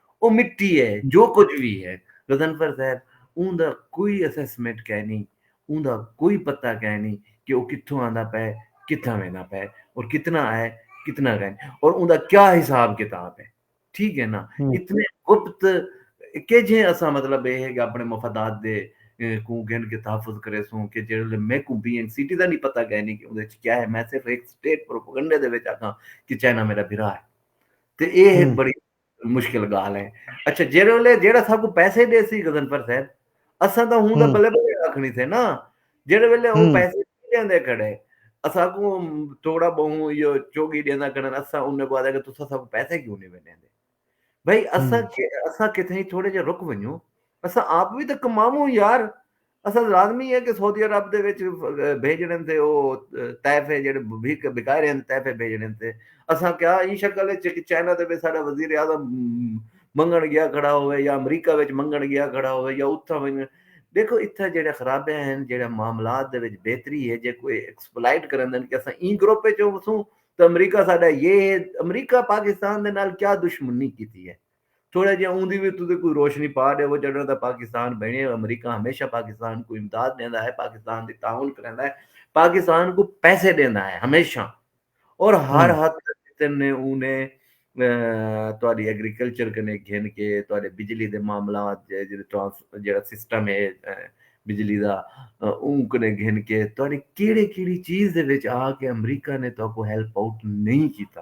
او مٹی ہے جو کجھ وی ہے غضنفر صاحب اوں دا کوئی اسسمنٹ کائنی اوں دا کوئی پتہ کائنی کہ او کتھوں آندا پئے کتھاں ویندا پئے اور کتنا آئے کتنا گئے اور اوں دا کیا حساب کتاب ہے ٹھیک ہے نا اتنے گپت کہ جے اساں مطلب اے ہے کہ اپنے مفادات دے کو گن کے تحفظ کرے سوں کہ جڑے میں کو بی این سی ٹی دا نہیں پتہ کائنی کہ اوں دے کیا ہے میں صرف ایک سٹیٹ پروپیگنڈے دے وچ آکھاں کہ چائنا میرا بھرا ہے تے اے ہے بڑی مشکل گالھ ہے اچھا جیرے ولے جیڑا سا کو پیسے دے سی غزنفر صاحب اساں دا ہوں دا بلے بلے آکھنی تھے نا جیرے ولے او پیسے دے دے کھڑے اساں کو تھوڑا بہوں یہ چوگی دے دا کھڑے اساں انہیں کو آدھے کہ تسا سا کو پیسے کیوں نہیں بنے دے بھئی اساں اساں کتھے تھوڑے جے رک ونیوں اساں آپ بھی تو کماموں یار اسد لازمی ہے کہ سعودی عرب دے وچ بھیجنن تے او تحفے جڑے بھیک بھکائے رہن تحفے بھیجنن تے اساں کیا ایں شکل وچ کہ چائنا دے وچ ساڈا وزیر اعظم منگن گیا کھڑا ہوے یا امریکہ وچ منگن گیا کھڑا ہوے یا اتھاں ونج دیکھو اتھاں جڑے خرابے ہیں جڑے معاملات دے وچ بہتری ہے جے کوئی ایکسپلائٹ کرندن کہ اساں ایں گروپ وچ وسوں تو امریکہ ساڈا یہ ہے امریکہ پاکستان دے نال کیا دشمنی کیتی ہے تھوڑا جیہا اوندی وی تساں کوئی روشنی پا ݙیوو جݙݨ دا پاکستان بݨیے امریکہ ہمیشہ پاکستان کوں امداد ݙیندا ہے پاکستان دی تعاون کریندا ہے پاکستان کوں پیسے ݙیندا ہے ہمیشہ اور ہر حد تک جتن نے اوں نے تہاݙی ایگریکلچر کنے گھن کے تہاݙے بجلی دے معاملات جیڑھے ٹرانس جیڑھا سسٹم ہے بجلی دا اوں کنے گھن کے تہاݙی کیڑے کیڑی چیز دے وچ آ کے امریکہ نے تہاکوں ہیلپ آؤٹ نہیں کیتا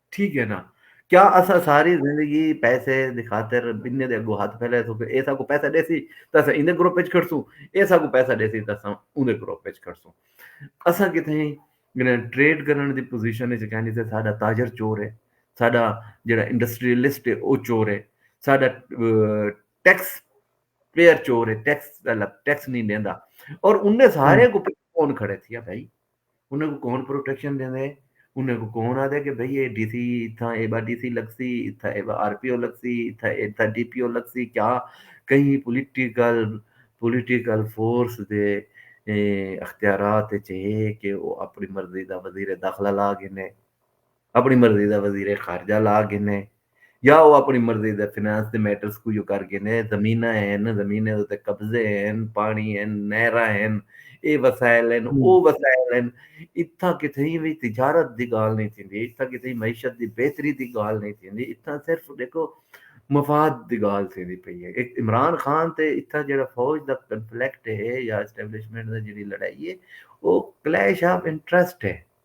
ٹھیک ہے نا کیا اسا ساری زندگی پیسے دی خاطر بننے دے اگو ہاتھ پھیلے سو کہ اے ساکو پیسہ دے سی تے اسا ایندے گروپ وچ کھڑ سوں اے ساکو پیسہ دے سی تے اسا اوندے گروپ وچ کھڑ سوں اسا کتھے ہیں یعنی ٹریڈ کرن دی پوزیشن وچ کہنی تے ساڈا تاجر چور ہے ساڈا جڑا انڈسٹریلسٹ ہے او چور ہے ساڈا ٹیکس پیئر چور ہے ٹیکس ٹیکس نہیں دیندا اور انہیں سارے کو کون کھڑے تھیا بھائی انہاں کوں کون پروٹیکشن ݙیندے؟ انہاں کوں کون آہدے کہ بھئی اے ڈی سی اتھاں ایبا ڈی سی لڳسی، اتھاں ایبا آر پی او لڳسی، اتھاں ایبا ڈی پی او لڳسی کیا کہیں پولیٹیکل پولیٹیکل فورس دے اختیارات اچ ہے کہ او اپݨی مرضی دا وزیر داخلہ لا گھنے۔ اپݨی مرضی دا وزیر خارجہ لا گھنے یا او اپݨی مرضی دے فنانس دے میٹرز کوں جو کر گھنے، زمیناں ہن، زمینیں دے اتے قبضے ہن، پاݨی ہن، نہراں ہن، اے وسائل ہن، او وسائل ہن، اتھاں کتھائیں وی تجارت دی ڳالھ نئیں تھیندی، اتھاں کتھائیں معیشت دی بہتری دی ڳالھ نئیں تھیندی، اتھاں صرف ݙیکھو مفاد دی ڳالھ تھیندی پئی اے۔ اک عمران خان تے اتھاں جیڑھا فوج دا کنفلیکٹ اے یا اسٹیبلشمنٹ دا جیڑھی لڑائی اے او کلیش آف انٹرسٹ اے۔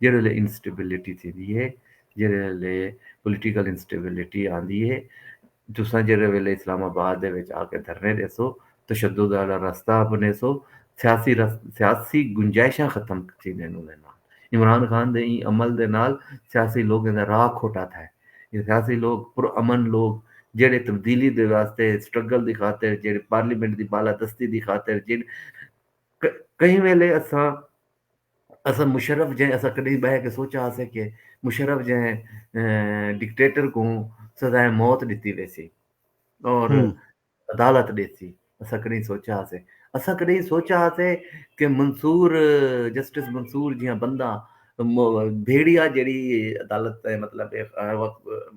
جیڑھے ویلے انسٹیبلٹی تھیندی ہے جیڑھے ویلے پولیٹیکل انسٹیبلٹی آندی ہے تساں جیڑھے ویلے اسلام آباد دے وچ آ کے دھرنے ݙیسو تشدد والا رستہ اپنیسو سیاسی سیاسی گنجائشاں ختم تھیندین اوندے نال عمران خان دے ایں عمل دے نال سیاسی لوکیں دا راہ کھوٹا تھا ہے یہ سیاسی لوگ پر امن لوگ جیڑھے تبدیلی دے واسطے سٹرگل دی خاطر جیڑھے پارلیمنٹ دی بالادستی دی خاطر جیڑھے کہیں ویلے اساں اساں مشرف جئیں اساں کڈہیں بہہ کے سوچا ہاسے کہ مشرف جئیں ڈکٹیٹر کوں سزائے موت ڈتی ویسی اور عدالت ڈیسی اساں کڈہیں سوچا ہاسے اساں کڈہیں سوچا ہاسے کہ منصور جسٹس منصور جیاں بندہ بھیڑیا جیڑی عدالت تے مطلب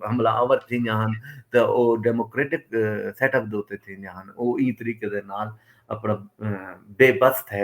حملہ آور تھی جان تے او ڈیموکریٹک سیٹ اپ دوتے تھی جان او ای طریقے دے نال اپنا بے بس تھے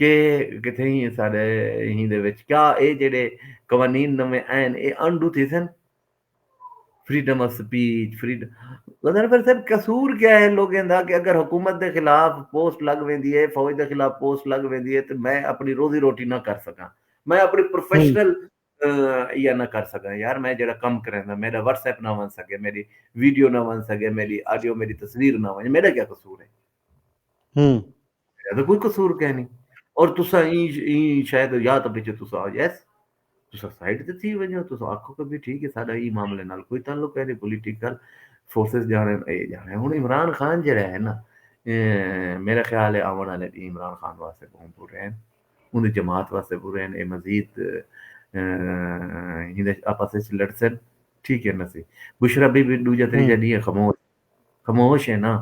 کہ کتھے ہی ساڈے ہی دے وچ کیا اے جیڑے قوانین نویں آئن اے انڈو تھیسن freedom of speech freedom Ghazanfar مطلب صاحب قصور کیا ہے لوگیں دا کہ اگر حکومت دے خلاف پوسٹ لگ ویندی ہے فوج دے خلاف پوسٹ لگ ویندی ہے تے میں اپنی روزی روٹی نہ کر سکاں میں اپنی پروفیشنل یا نہ کر سکاں یار میں جڑا کم کریندا میرا واٹس ایپ نہ ون سکے میری ویڈیو نہ ون سکے میری آڈیو میری تصویر نہ ون میرا کیا قصور ہے میڈا تاں کوئی قصور کینی اور تسا این شاید یا تاں پچھے تسا یس تسا سائیڈ تے تھی ونجو تسا آکھو کہ بھی ٹھیک ہے ساڈا ای معاملے نال کوئی تعلق ہے نہیں پولیٹیکل فورسز جانے اے جانے ہن عمران خان جڑا ہے نا میرا خیال ہے آون والے ڈی عمران خان واسطے بہت برے ہیں ان دی جماعت واسطے برے ہیں اے مزید ہن آپس وچ لڑسن ٹھیک ہے نا سی بشرا بی بی دوجا تریجا ڈی خاموش خموش ہے نا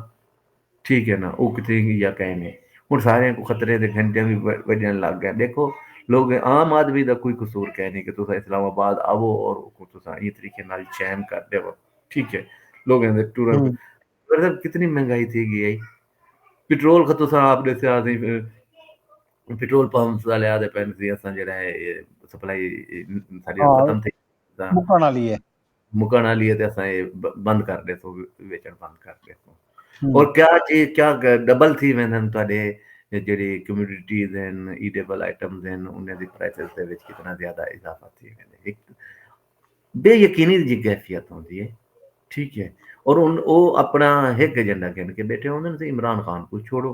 ٹھیک ہے نا او کتھے ہی یا کئے نے ہن ساریاں کو خطرے دے گھنٹیاں وی وجن لگ گئے دیکھو لوگ عام آدمی دا کوئی قصور کئے نے کہ تساں اسلام آباد آوو اور کو تساں ایں طریقے نال چین کر دیو ٹھیک ہے لوگاں دے ٹورن مطلب کتنی مہنگائی تھی گئی ہے پٹرول کا تساں آپ دے سیاہ دی پٹرول پمپ والے آدے پین سی اساں جڑا ہے سپلائی ساری ختم تھی مکن والی ہے مکن آلی ہے تے اساں اے بند کر دے سو ویچن بند کر دے سو اور کیا جی کیا ڈبل تھی ویندے ہیں تہاڈے جڑی کمیونٹیز ہیں ایڈیبل آئٹمز ہیں انہاں دی پرائسز دے وچ کتنا زیادہ اضافہ تھی ویندے ایک بے یقینی دی کیفیت ہوندی ہے ٹھیک ہے اور ان او اپنا ہک ایجنڈا کہن کے بیٹھے ہوندے ہیں عمران خان کو چھوڑو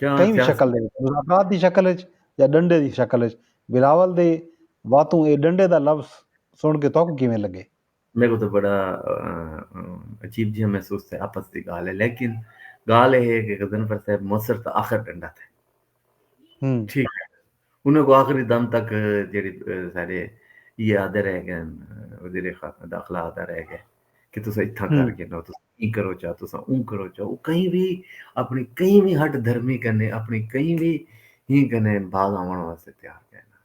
کہیں وی شکل دے وچ مذاکرات دی شکل وچ یا ڈنڈے دی شکل وچ بلاول دے واتوں اے ڈنڈے دا لفظ سنڑ کے تہاکوں کیویں لگے؟ میکوں تاں بڑا عجیب جیہاں محسوس تھیا آپس دی گالھ اے لیکن گالھ اے ہے کہ غضنفر صاحب مصر تاں آخر ڈنڈا تھے ٹھیک ہے انہاں کوں آخری دم تک جیڑھے ساڈے ایہ آہدے رہ گئے وزیر داخلہ آہدا رہ گئے کہ تساں اتھاں کر گھنو تساں ایں کرو چا تساں اوں کرو چا او کہیں وی اپنی کہیں وی ہٹ دھرمی کنے اپنی کہیں وی ہی کنے باز آوݨ واسطے تیار کائے نہ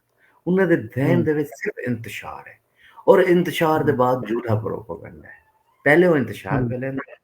انہاں دے ذہن دے وچ صرف انتشار ہے اور انتشار دے بعد جھوٹا پروپیگنڈا ہے پہلے او انتشار پھیلاندے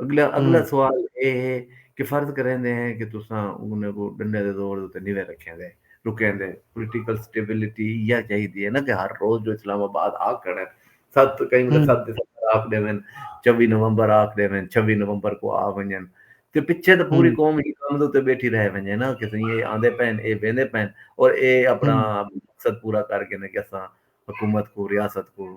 اگلا اگلا سوال اے ہے کہ فرض کریندے ہیں کہ تساں انہاں کوں ڈنڈے دے زور اتے نیوے رکھیندے رکیندے پولیٹیکل سٹیبلٹی ایہا چاہیدی ہے نا کہ ہر روز جو اسلام آباد آ کھڑن ست کئی ویلے ست دسمبر آکھ ڈیون چوی نومبر آکھ ڈیون چھوی نومبر کو آ ونجن تے پچھے تے پوری قوم ہی کم دے اتے بیٹھی رہ ونجے نا کہ سئیں اے آندے پین اے ویندے پین اور اے اپنا مقصد پورا کر گھن کہ اساں حکومت کوں ریاست کوں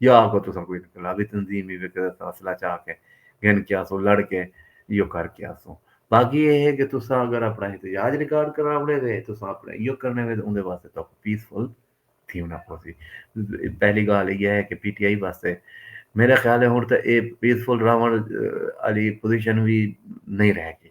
یا آکھو تساں کوئی انقلابی تنظیم ہی وے کہ اساں اسلحہ چا کے گھن کے آسوں لڑ کے ایہو کر کے آسوں باقی ایہ ہے کہ تساں اگر اپنا احتجاج ریکارڈ کراونے وے تساں اپنا ایہو کرنے وے اوندے واسطے تہاکوں پیسفل تھیونا پوسی پہلی گال ایہی ہے کہ پی ٹی آئی واسطے میرے خیال ہے ہن تے ایہ پیسفل راون والی پوزیشن وی نہیں رہ گئی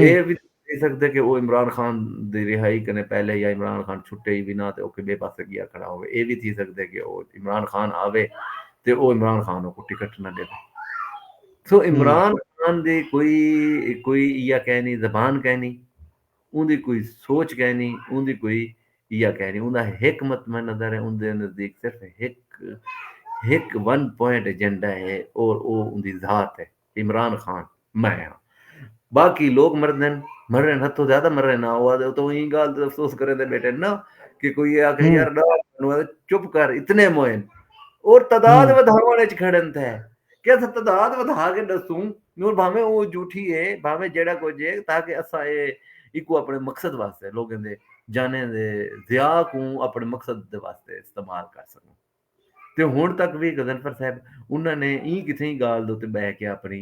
اے وی تھی سڳدے کہ او عمران خان دی رہائی کنیں پہلے یا عمران خان چھٹے ای وی نہ تے اوکھے ٻئے پاسے ڳیا کھڑا ہووے۔ اے وی تھی سڳدے کہ او عمران خان آوے تے او عمران خان اوکوں ٹکٹ نہ ݙیوے۔ سو عمران خان دی کوئی کوئی ایہا کہنی زبان کہنی اوندی کوئی سوچ کہنی اوندی کوئی ایہا کہنی اوندا ہک مطمع نظر ہے اوندے نزدیک صرف ہک ہک ون پوائنٹ ایجنڈا ہے اور او اوندی ذات ہے۔ عمران خان، میں ہاں باقی لوک مردن مرن ہتھوں زیادہ مرن نہ ہوا دے تو ایں گال تے افسوس کریں دے بیٹھے نہ کہ کوئی یہ آکھے یار ڈا نو چپ کر اتنے موئن اور تعداد ودھاون وچ کھڑن تھے کہ اسا تعداد ودھا کے دسوں نور بھاویں او جھوٹھی ہے بھاویں جیڑا کچھ ہے تاکہ اسا اے ایکو اپنے مقصد واسطے لوگوں دے جانے دے ضیاء کوں اپنے مقصد دے واسطے استعمال کر سکوں تے ہݨ تک وی غضنفر صاحب انہاں نے ایں کتھیں ڳالھ دے اتے ٻہہ کے اپݨی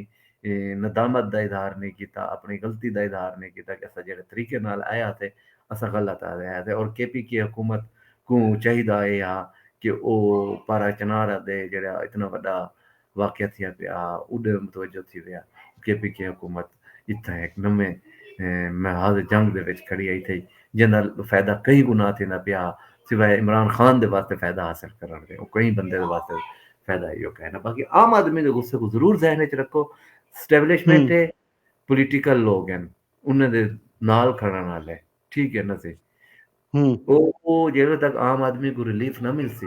ندامت دا اظہار نئیں کیتا، اپݨی غلطی دا اظہار نئیں کیتا کہ اساں جیڑھے طریقے نال آئے ہاسے اساں غلط آئے ہاسے اور کے پی کے حکومت کوں چاہیدا اے ہا کہ او پارہ چنار آدے جیڑھا اتنا وݙا واقعہ تھیا تے آ اوڈے متوجہ تھی ویا۔ کے پی کے حکومت اتھاں ہک نویں محاذ جنگ دے وچ کھڑی ہئی تھئی جیندا فیدہ کئی گنا تھیندا پیا ہا سوائے عمران خان دے واسطے فیدہ حاصل کرنڑ دے او کئی بندے دے واسطے فیدہ ہئی او کائے نہ باقی عام آدمی دے غصے کوں ضرور ذہن وچ رکھو سٹیبلشمنٹ ہے پولیٹیکل لوگ ہن انہاں دے نال کھڑن والے ٹھیک ہے نہ سی او جیڑے تک عام آدمی کو ریلیف نہ ملسی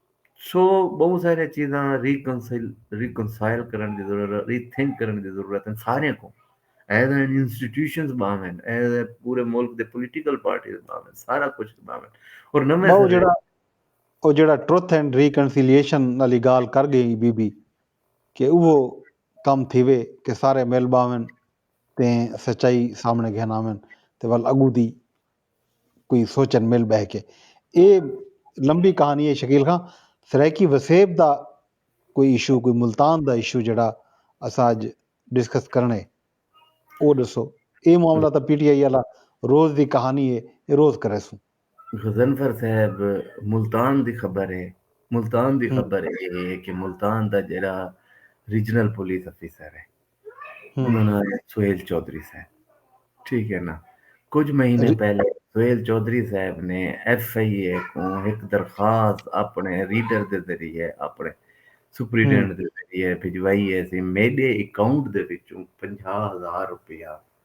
سو بہوں سارے چیزاں ری کنسل ری کنسائل کرن دی ضرورت ری تھنک کرن دی ضرورت ہے سارے کو ایز این انسٹیٹیوشنز باویں ایز اے پورے ملک دے پولیٹیکل پارٹیز باویں سارا کچھ باویں اور نویں وہ جڑا وہ جڑا ٹروتھ اینڈ ریکنسیلیشن والی گال کر گئی بی بی کہ وہ کم تھیوے کہ سارے مل باویں تے سچائی سامنے گھن آویں تے ول اگو دی کوئی سوچن مل بہہ کے اے لمبی کہانی ہے شکیل خان سرائیکی وسیب دا کوئی ایشو کوئی ملتان دا ایشو جڑا اساں اج ڈسکس کرنے او ڈسو اے معاملہ تا پی ٹی آئی والا روز دی کہانی ہے اے روز کرے سوں۔ غضنفر صاحب ملتان دی خبر ہے ملتان دی خبر اے ہے کہ ملتان دا جڑا ریجنل پولیس آفیسر ہے۔ انہاں نال سہیل چوہدری صاحب ٹھیک ہے نا کچھ مہینے جی۔ پہلے سہیل چوہدری صاحب نے ایف آئی اے کو ایک درخواست اپنے ریڈر دے ذریعے اپنے سپریڈنٹ دے ذریعے بھجوائی ہے سی میڈے اکاؤنٹ دے وچوں پنجاہ ہزار روپیہ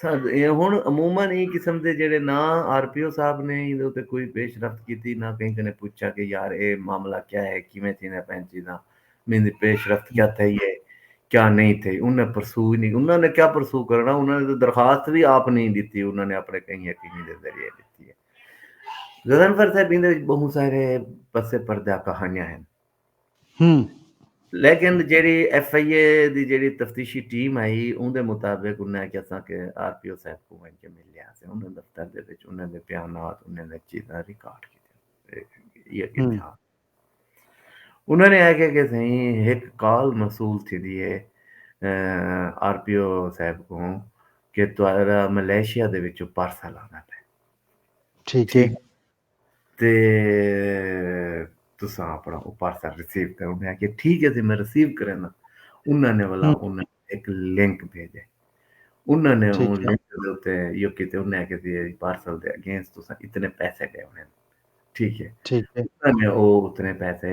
سر ہن عموما ایں قسم دے جیڑھے نہ آر پی او صاحب نے ایندے اتے کوئی پیش رفت کیتی نہ کہیں کنے پچھا کہ یار اے معاملہ کیا ہے کیویں تھیندے پئن چیزاں میندی پیش رفت کیا تھئی ہے کیا نہیں تھئی انہیں پرسو ہی نہیں انہاں نے کیا پرسو کرنا انہاں نے تو درخواست بھی آپ نہیں دیتی انہاں نے اپنے کہیں حکیمی دے ذریعے دیتی ہے غزنفر صاحب ایندے بہت سارے پسے پردہ کہانیاں ہیں ہن۔ لیکن جیڑھی ایف آئی اے دی جیڑھی تفتیشی ٹیم آئی اوندے مطابق انہاں آکھیا اساں کے آر پی او صاحب کوں ونج کے ملے ہاسے انہاں دے دفتر دے وچ انہاں دے بیانات انہاں دیاں چیزاں ریکارڈ کیتیاں ہن۔ انہاں نے آکھیا کے سائیں ہک کال موصول تھیندی ہے آر پی او صاحب کوں کہ تہاڈا ملائیشیا دے وچوں پارسل آندا پئے۔ ٹھیک ہے۔ تے تساں اپنا او پارسل ریسیو کرو میں کہ ٹھیک ہے جی میں ریسیو کرینا انہاں نے والا انہاں نے ایک لنک بھیجے انہاں نے اون لنک دے تے یو کیتے انہاں نے کہتے ہیں پارسل دے اگینسٹ تساں اتنے پیسے دے ہونے ٹھیک ہے ٹھیک ہے انہاں نے او اتنے پیسے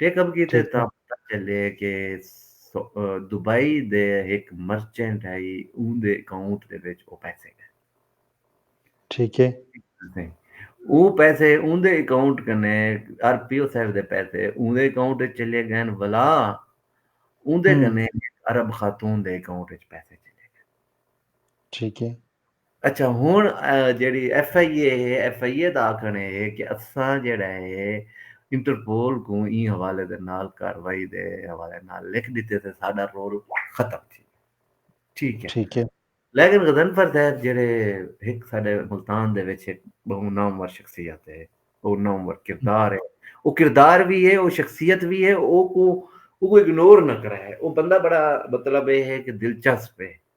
ٹیک اپ کیتے تاں پتہ چلے کہ دبئی دے ہک مرچنٹ ہئی اوندے اکاؤنٹ دے وچ او پیسے گئے ٹھیک ہے او پیسے اوندے اکاؤنٹ کنے آر پی او صاحب دے پیسے اوندے اکاؤنٹ وچ چلے گئے ولا اوندے کنے عرب خاتون دے اکاؤنٹ وچ پیسے چلے گئے ٹھیک ہے اچھا ہن جیڑی ایف آئی اے ہے ایف آئی اے دا آکھن ہے کہ اساں جیڑا ہے انٹرپول کوں ایں حوالے دے نال کاروائی دے حوالے نال لکھ ڈتے تے ساڈا رول ختم تھی ٹھیک ہے ٹھیک ہے لیکن غزنفر صاحب جیڑے ایک ساڈے ملتان دے وچ ایک بہو نامور شخصیت ہے او نامور کردار ہے او کردار بھی ہے او شخصیت بھی ہے او کو او کو اگنور نہ کرا ہے او بندہ بڑا مطلب ہے کہ دلچسپ ہے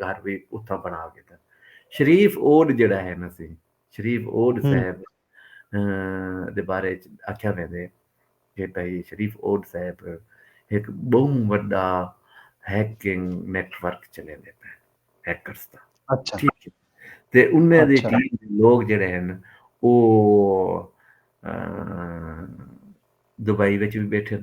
گھر وی اتھاں بݨا گھدا۔ شریف اوڈ جیڑھا ہے نا سی شریف اوڈ صاحب دے بارے اچ آکھیا ویندے کہ بھئی شریف اوڈ صاحب ہک ٻہوں وݙا ہیکنگ نیٹ ورک چلیندے پئے ہیکرز دا ٹھیک ہے تے انہاں دی ٹیم دے لوک جیڑھے ہن او دبئی وچ وی ٻیٹھن۔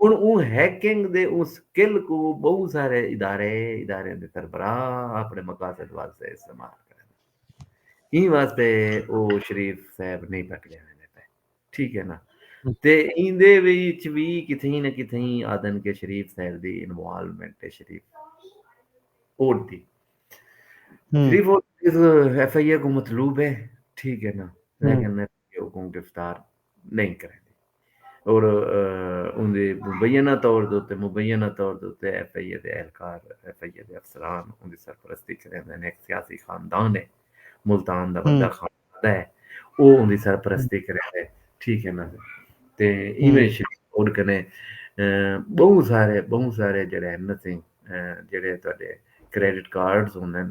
ہݨ اوں ہیکنگ دے اوں سکل کوں ٻہوں سارے ادارے، اداریاں دے سربراہ آپݨے مقاصد واسطے استعمال کریندن۔ ایں واسطے او شریف صاحب نئیں پکڑے ویندے پئے۔ ٹھیک ہے نا؟ تے ایندے وچ وی کتھئیں نہ کتھئیں آہدن کہ شریف صاحب دی انوالومنٹ ہے شریف اوڈ دی۔ Sharif Odh F I A کوں مطلوب ہے۔ ٹھیک ہے نا؟ لیکن کہ اوکوں گرفتار نئیں کریندی اور اوندے مبینہ طور دے اتے مبینہ طور دے اتے ایف آئی اے دے اہلکار ایف آئی اے دے افسران اوندی سرپرستی کریندے ہن ایک سیاسی خاندان ہے ملتان دا بندہ خاندان ہے او اوندی سرپرستی کریندے ٹھیک ہے نا تے ایویں شریف اور کنے بہت سارے بہت سارے جڑے ہیں نا سنگھ جڑے تہاڈے کریڈٹ کارڈز ہوندے ہیں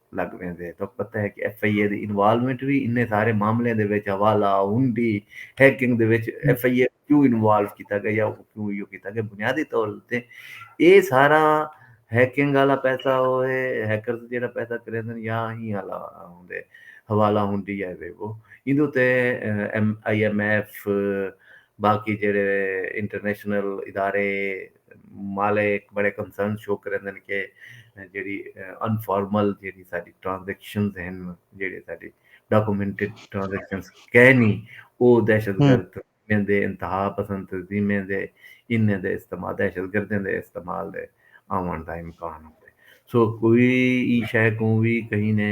لگ ویندے تہاکوں پتہ ہے کہ ایف آئی اے دی انوالومنٹ وی انہیں سارے معاملیاں دے وچ حوالہ ہنڈی ہیکنگ دے وچ ایف آئی اے کیوں انوالو کیتا گیا یا کیوں ایو کیتا گیا بنیادی طور تے اے سارا ہیکنگ والا پیسہ ہوئے ہیکرز جیڑا پیسہ کریندن یا ہی والا ہوندے حوالہ ہنڈی یا وے وہ ایندے تے ایم آئی ایم ایف باقی جیڑے انٹرنیشنل ادارے مالے ہک بڑے کنسرن شو کریندن کہ جیڑھی انفارمل جیڑھی ساڈی ٹرانزیکشنز ہن جیڑھے ساڈی ڈاکومنٹڈ ٹرانزیکشنز کینی او دہشت گرد تنظیمیں دے انتہا پسند تنظیمیں دے انہیں دے استعمال دہشت گردیں دے استعمال دے آوݨ دا امکان ہوندے سو کوئی ای شے کوں وی کہیں نے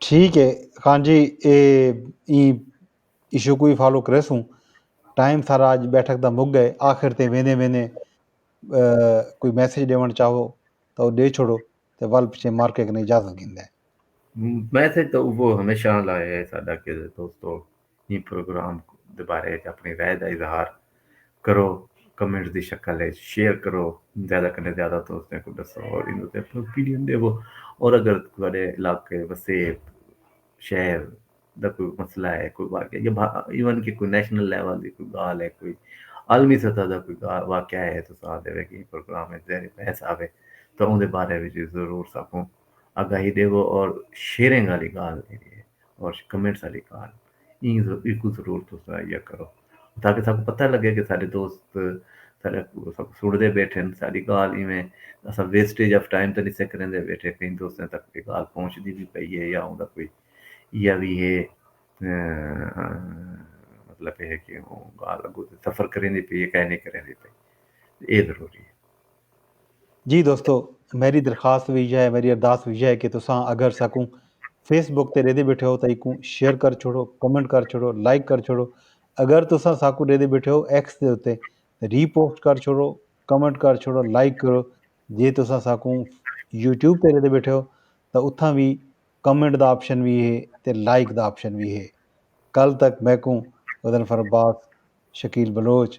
ٹھیک ہے خان جی اے ایں ایشو کو ہی فالو کریسوں ٹائم سارا اج بیٹھک دا مک گئے آخر تے ویندے ویندے کوئی میسج ڈیون چاہو تو او ڈے چھوڑو تے ول پچھے مار کے کنے اجازت گھندے میسج تو اوبو ہمیشہ لائے ہے ساڈا کہ دوستو ایں پروگرام دے بارے اچ اپݨی رائے دا اظہار کرو کمنٹس دی شکل اچ شیئر کرو زیادہ کنیں زیادہ دوستاں کوں ݙسو اور ایں اتے اپݨی اوپینین ݙیوو اور اگر تہاݙے علاقے وسیب شہر دا کوئی مسئلہ ہے کوئی واقعہ یا ایون کہ کوئی نیشنل لیول دی کوئی ڳالھ ہے کوئی عالمی سطح دا کوئی واقعہ ہے تو ساتھ دے ویکھیں پروگرام اچ زیر بحث آوے تو اون دے بارے وچ ضرور ساکوں آگاہی ݙیوو اور شیئرنگ والی ڳالھ جیڑھی ہے اوش کمنٹس آلی کال ایں ایکوں ضرور تساں یا کرو تاکہ ساکوں پتہ لگے کہ ساڈے دوست ساڈا ساکوں سنڑدے بیٹھن ساڈی گال ایویں اساں ویسٹیج آف ٹائم تے نسے کریندے بیٹھے کہیں دوستیں تک اے گال پہنچدی وی پئی ہے یا اوندا کوئی یا وی ہے مطلب اے ہے کہ اوں گال اگوں تے سفر کریندی پئی ہے کائے نی کریندی پئی اے ضروری ہے۔ جی دوستو میری درخواست وی یہ ہے میری ارداس وی یہ ہے کہ تساں اگر ساکوں فیس بک تے ریدے بیٹھے ہو تاں ایکوں شیئر کر چھوڑو کمنٹ کر چھوڑو لائک کر چھوڑو اگر تساں ساکوں ریدے بیٹھے ہو ایکس دے اتے ری پوسٹ کر چھوڑو کمنٹ کر چھوڑو لائک کرو جے تساں ساکوں یوٹیوب تے ریدے بیٹھے ہو تاں اتھاں وی کمنٹ دا آپشن وی ہے تے لائک دا آپشن وی ہے کل تک میکوں ودن فرباس شکیل بلوچ